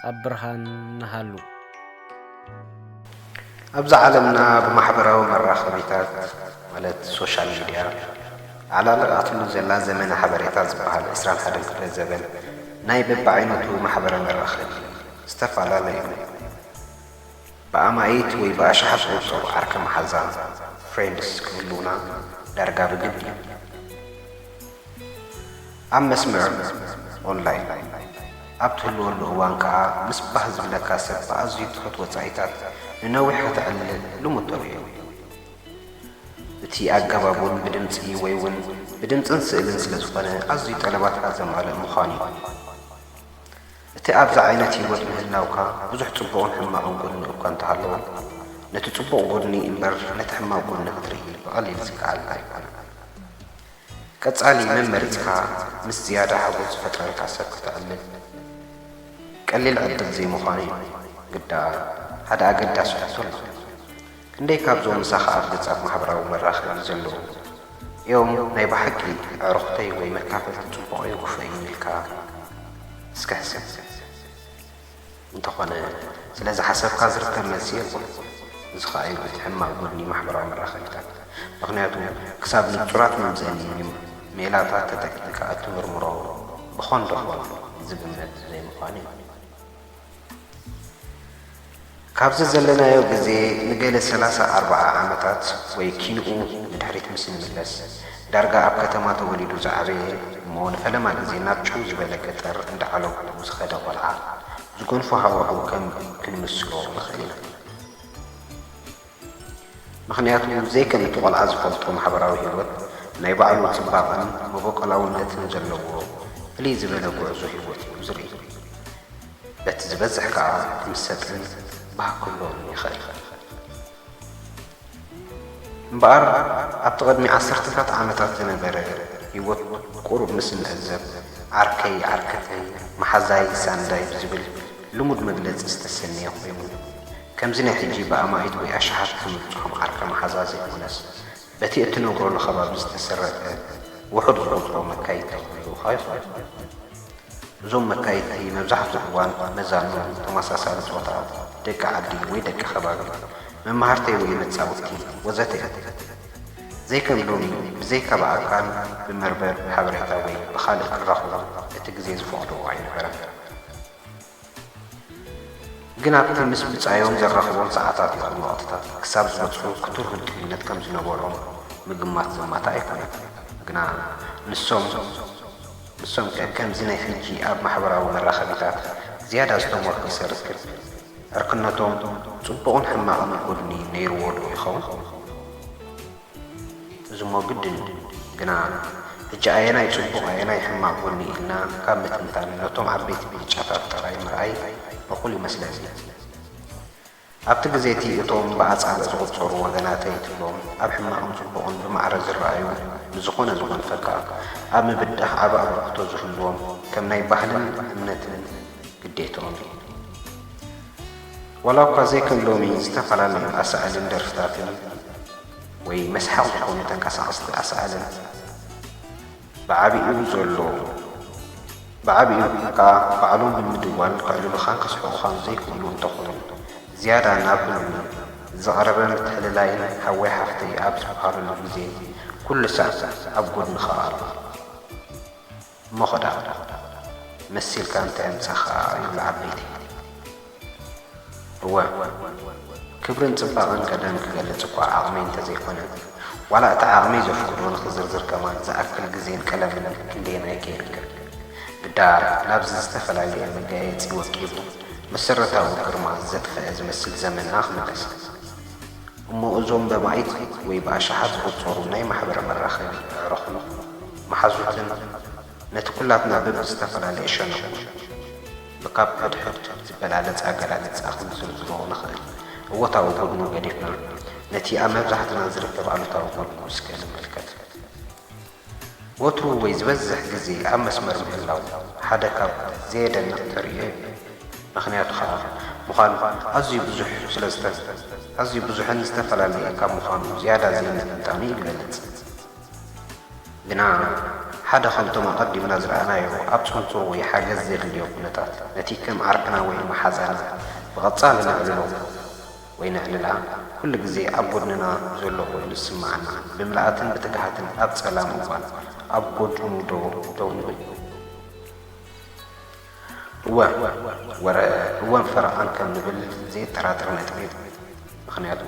ኣብ ብርሃን ንሃሉ! ኣብዛ ዓለምና ብማሕበራዊ መራኸቢታት ማለት ሶሻል ሚድያ ተዓላሊቓትሉ ዘላ ዘመነ ሓበሬታ ዝበሃል ዕስራን ሓደን ክፍለ ዘበን ናይ በብዓይነቱ ማሕበረ መራኸቢ ዝተፋላለዩ ብኣማኢት ወይ ብኣሽሓት ዝቑጸሩ ዓርከ መሓዛ፣ ፍሬንድስ፣ ክህልዉና ዳርጋ ብግድ እዩ። ኣብ መስመር፣ ኦንላይን፣ ኣብ ትህልወሉ እዋን ከኣ ምስ ባህ ዝብለካ ሰብ ብኣዝዩ ትሑት ወጻኢታት ንነዊሕ ከተዕልል ልሙድ ጠባይ'ዩ። እቲ ኣገባብ ውን ብድምጺ ወይ ውን ብድምጽን ስእልን ስለ ዝኾነ ኣዝዩ ጠለባትካ ዘማልእ ምዃኑ'ዩ። እቲ ኣብዚ ዓይነት ህይወት ምህላውካ ብዙሕ ጽቡቕን ሕማቕን ጎድኒ እኳ እንተሃለዎ፣ ነቲ ጽቡቕ ጎድኒ እምበር ነቲ ሕማቕ ጎድኒ ክትርኢ ብቐሊል ዝከኣል ኣይኮነን። ቀጻሊ መን መሪጽካ ምስ ዝያዳ ሓጎስ ዝፈጥረልካ ሰብ ክትዕልል ቀሊል ዕድል ዘይምዃኑ'ዩ። ግዳ ሓደ ኣገዳሲ ሕቶ ኣሎ። ክንደይ ካብዞም ምሳኻ ኣብ ገጻት ማሕበራዊ መራኸቢ ዘለዉ እዮም ናይ ብሓቂ ኣዕሩኽተይ ወይ መካፈልቲ ጽቡቕ'ዩ ክፉእ'ዩ ኢልካ እስከ ሕሰብ። እንተኾነ ስለ ዝሓሰብካ ዝርከብ መልሲ የልቦን። እዚ ከኣ'ዩ እቲ ሕማቕ ጎድኒ ማሕበራዊ መራኸቢታት። ምኽንያቱ ክሳብ ንጹራት መምዘኒ ሜላታት ተጠቂምካ እትምርምሮ ብኮን ዶ ኮን ዝግመት ብዘይምዃኑ'ዩ። ካብዚ ዘለናዮ ግዜ ንገለ ሰላሳ ኣርባዓ ዓመታት ወይ ኪንኡ ንድሕሪት ምስ እንምለስ፣ ዳርጋ ኣብ ከተማ ተወሊዱ ዝዓበየ እሞ ንፈለማ ግዜ ናብ ጭው ዝበለ ገጠር እንዳ ዓለቡ ዝኸደ ቈልዓ ዝገንፎ ሃዋሁ ከም ክንምስሎ ንኽእል ኢና። ምኽንያቱ ዘይከነይቲ ቆልዓ ዝፈልጦ ማሕበራዊ ህይወት ናይ ባዕሉ ጽባቐን መበቆላውነትን ዘለዎ ፍልይ ዝበለ ጉዕዞ ህይወት እዩ ዝርኢ። በቲ ዝበዝሕ ከኣ ክምሰጥን ባህ ክብሎን ይኽእል። እምበኣር ኣብቲ ቅድሚ ዓሰርተታት ዓመታት ዝነበረ ህይወት ቁሩብ ምስ እንዕዘብ ዓርከይ፣ ዓርከተይ፣ መሓዛይ፣ ሳንዳይ ብዝብል ልሙድ መግለጺ ዝተሰነየ ኮይኑ፣ ከምዚ ናይ ሕጂ ብኣማኢት ወይ ኣሽሓት ዝምብጽሖም ዓርኪ መሓዛ ዘይኮነስ፣ በቲ እትነብረሉ ከባቢ ዝተሰረተ ውሑድ ዝቑጽሩ መካይድቲ ክህልዉኻ ይኽእሉ። እዞም መካይድቲ መብዛሕትኡ እዋን መዛኑ፣ ተመሳሳሊ ጾታ፣ ደቂ ዓዲ ወይ ደቂ ከባቢ፣ መማህርተይ ወይ መጻውቲ፣ ወዘተ እዮም። ዘይከም ሎሚ ብዘይካ ብኣካል፣ ብመርበብ ሓበሬታ ወይ ብኻልእ ክራኹቡ እቲ ግዜ ዝፈቕዶ ኣይነበረን። ግን ኣብቲ ምስ ብጻዮም ዘራኽቦም ሰዓታት ይኹን ወቕትታት ክሳብ ዝበጽሑ ክቱር ህድህነት ከም ዝነበሮም ምግማት ዘማትእ ኣይኮነን። ግና ንሶም ንሶምከ ከምዚ ናይ ሕጂ ኣብ ማሕበራዊ መራኸቢታት ዝያዳ ዝተሞርከሰ ርክብ ዕርክነቶም ጽቡቕን ሕማቕን ጎድኒ ነይርዎዶ ይኸውን? እዚሞ ግድን እዩ ግና ሕጂ ኣየናይ ጽቡቕ ኣየናይ ሕማቕ ጎኒ ኢልና ካብ ምትንታን ነቶም ዓበይቲ ብልጫታት ጥራይ ምርኣይ እኹል ይመስለኒ። ኣብቲ ግዜቲ እቶም ብኣጻብዕ ዝቑጸሩ ወገናተይ ትብሎም ኣብ ሕማቕን ጽቡቕን ብማዕረ ዝረኣዩ ንዝኾነ ዝጎንፈካ ኣብ ምብዳህ ዓቢ ኣበርክቶ ዝህልዎም ከም ናይ ባህልን እምነትን ግዴትኦም እዩ። ዋላኳ ዘይከም ሎሚ ዝተፈላለዩ ኣሳእልን ደርፍታትን፣ ወይ መስሓቕ ዝኾኑ ተንቀሳቐስቲ ኣስኣልን ብዓቢኡ ዘሎ ብዓቢኡ ከኣ ባዕሎም ብምድዋል ከዕልሉኻን ከስሕቑኻን ዘይክእሉ እንተኾኑ ዝያዳ ናብ እምኒ ዝቐረበ ምትሕልላይን ሓወይ ሓፍተይ ኣብ ዝበሃለሉ ግዜ ኩሉሳዕ ኣብ ጎድንኻ ኣሎ። ሞኽዳ መሲልካ እንታይ ኣምጻኻ ይብሉ ዓበይቲ። እወ ክብርን ጽባቐን ገዳም ክገልጽ እኳ ዓቕመይ እንተዘይኮነ፣ ዋላ እቲ ዓቕመይ ዘፍቅዶ ንኽዝርዝር ከማን ዝኣክል ግዜን ቀለምን ክንደየናይ ከይርከብ ግዳ ናብዚ ዝተፈላለየ መጋየጺ ወቂቡ መሰረታዊ ግርማ ዘጥፈኣ ዝመስል ዘመንና ክምለስ እሞ እዞም በማኢት ወይ ብኣሽሓት ዝቑጸሩ ናይ ማሕበረ መራኸቢ ኣዕሩኽን መሓዙትን ነቲ ኩላትና በብዝተፈላለየ ሸነኹ ብካብ ሕድሕድ ዝበላለጽ ኣገላልጻ ክንዝርዝሮ ንኽእል እወታዊ ጎድኑ ገዲፍና ነቲ ኣብ መብዛሕትና ዝርከብ ኣሉታዊ ጎድኑ እስከ ንመልከት። ወትሩ ወይ ዝበዝሕ ግዜ ኣብ መስመር ምህላው ሓደ ካብ ዘየደንቕ ተርእዮ እዩ። ምኽንያቱ ከኣ ምዃን ኣዝዩ ብዙሕ ስለ ኣዝዩ ብዙሕን ዝተፈላለየ ካብ ምዃኑ ዝያዳ ዘይምጥንጣኑ ይግለልጽ። ግና ሓደ ከምቶም ኣቐዲምና ዝረኣናዮ ኣብ ጽንኩር ወይ ሓገዝ ዘድልዮ ኩነታት ነቲ ከም ዓርክና ወይ መሓዛና ብቐጻሊ ነዕልሎ። ወይ ንዕልላ ኩሉ ግዜ ኣብ ጎድንና ዘሎ ኮይኑ ዝስምዓና ብምልኣትን ብትግሃትን ኣብ ጸላም እዋን ኣብ ጎድኑ ዶ ደው ንብል እወ ወረ እወን ፈረቓን ከም ንብል ዘየጠራጥር ነጥቢ እዩ ምኽንያቱ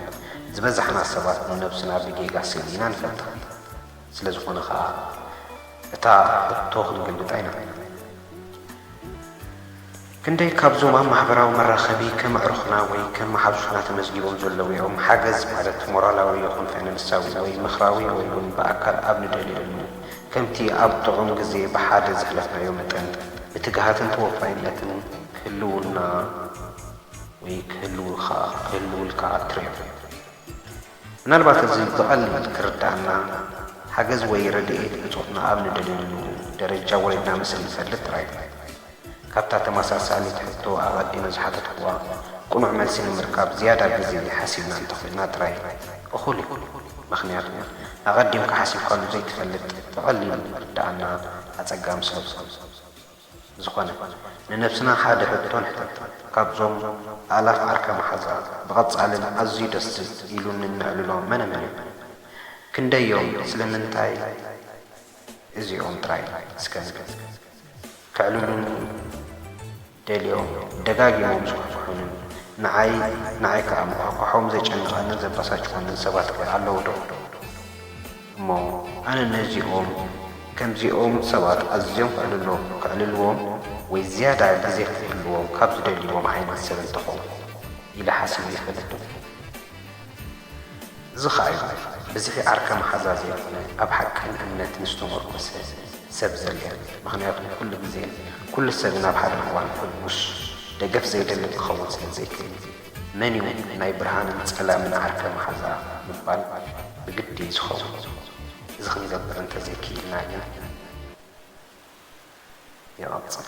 ዝበዛሕና ሰባት ንነብስና ብጌጋ ስእሊ ኢና ንፈልጣ ስለ ዝኾነ ኸኣ እታ ሕቶ ክንግልብጣ ኢና። ክንደይ ካብዞም ኣብ ማሕበራዊ መራኸቢ ከም ኣዕሩኽና ወይ ከም መሓዙትና ተመዝጊቦም ዘለዉ'ዮም ሓገዝ ማለት ሞራላዊ ይኹን ፋይናንሳዊ ወይ ምኽራዊ ወይ ውን ብኣካል ኣብ ንደልየሉ ከምቲ ኣብ ጥዑም ግዜ ብሓደ ዘሕለፍናዮ መጠን ብትግሃትን ተወፋይነትን ክህልዉና ወይ ክህልዉኻ ክህልዉልካ እትሪኦ ምናልባት እዚ ብቐሊል ክርድኣና ሓገዝ ወይ ረድኤት ብጾትና ኣብ ንደልየሉ ደረጃ ወሪድና ምስ እንፈልጥ ጥራይ እዩ። ካብታ ተመሳሳሊት ሕቶ ኣብ ኣዲኖ ዝሓተትኩዋ ቅኑዕ መልሲ ንምርካብ ዝያዳ ግዜ ሓሲብና እንተኹኢልና ጥራይ እኹል እዩ። ምኽንያቱ ኣቐዲምካ ሓሲብካሉ ዘይትፈልጥ ብቐሊሉ ክርድኣና ኣጸጋሚ ስለዝኾነ። ዝኾነ ንነብስና ሓደ ሕቶ ንሕተት ካብዞም ኣእላፍ ዓርካ መሓዛ ብቀጻልን ኣዝዩ ደስ ኢሉኒ ነዕልሎ መነ መን እዩ ክንደይ እዮም ስለምንታይ እዚኦም ጥራይ እስከ ንብል ከዕልሉኒ ደልዮም ደጋጊሞም ዝኳኳሑንን ንዓይ ንዓይ ከኣ ምኳኳሖም ዘጨንቀንን ዘበሳጭወንን ሰባት ከ ኣለዉ ዶ? እሞ ኣነ ነዚኦም ከምዚኦም ሰባት ኣዝዮም ከዕልሎ ከዕልልዎም ወይ ዝያዳ ግዜ ክህልዎም ካብ ዝደልዎም ዓይነት ሰብ እንተኾንኩ ኢለ ሓሲበ ኣይፈልጥን። እዚ ኸኣ'ዩ ብዝሒ ዓርከ መሓዛ ዘይኮነ ኣብ ሓቅን እምነትን ዝተሞርኮሰ ሰብ ዘልዕል። ምኽንያቱ ኩሉ ግዜን ኩሉ ሰብን ኣብ ሓደ እዋን ፈጉስ ደገፍ ዘይደሊ ክኸውን ስለ ዘይክእል። መን እዩ ናይ ብርሃንን ጸላምን ዓርከ መሓዛ ምባል ብግዲ እዩ ዝኸውን። እዚ ክንገብር እንተዘይክኢልና ግን ይቕጽል።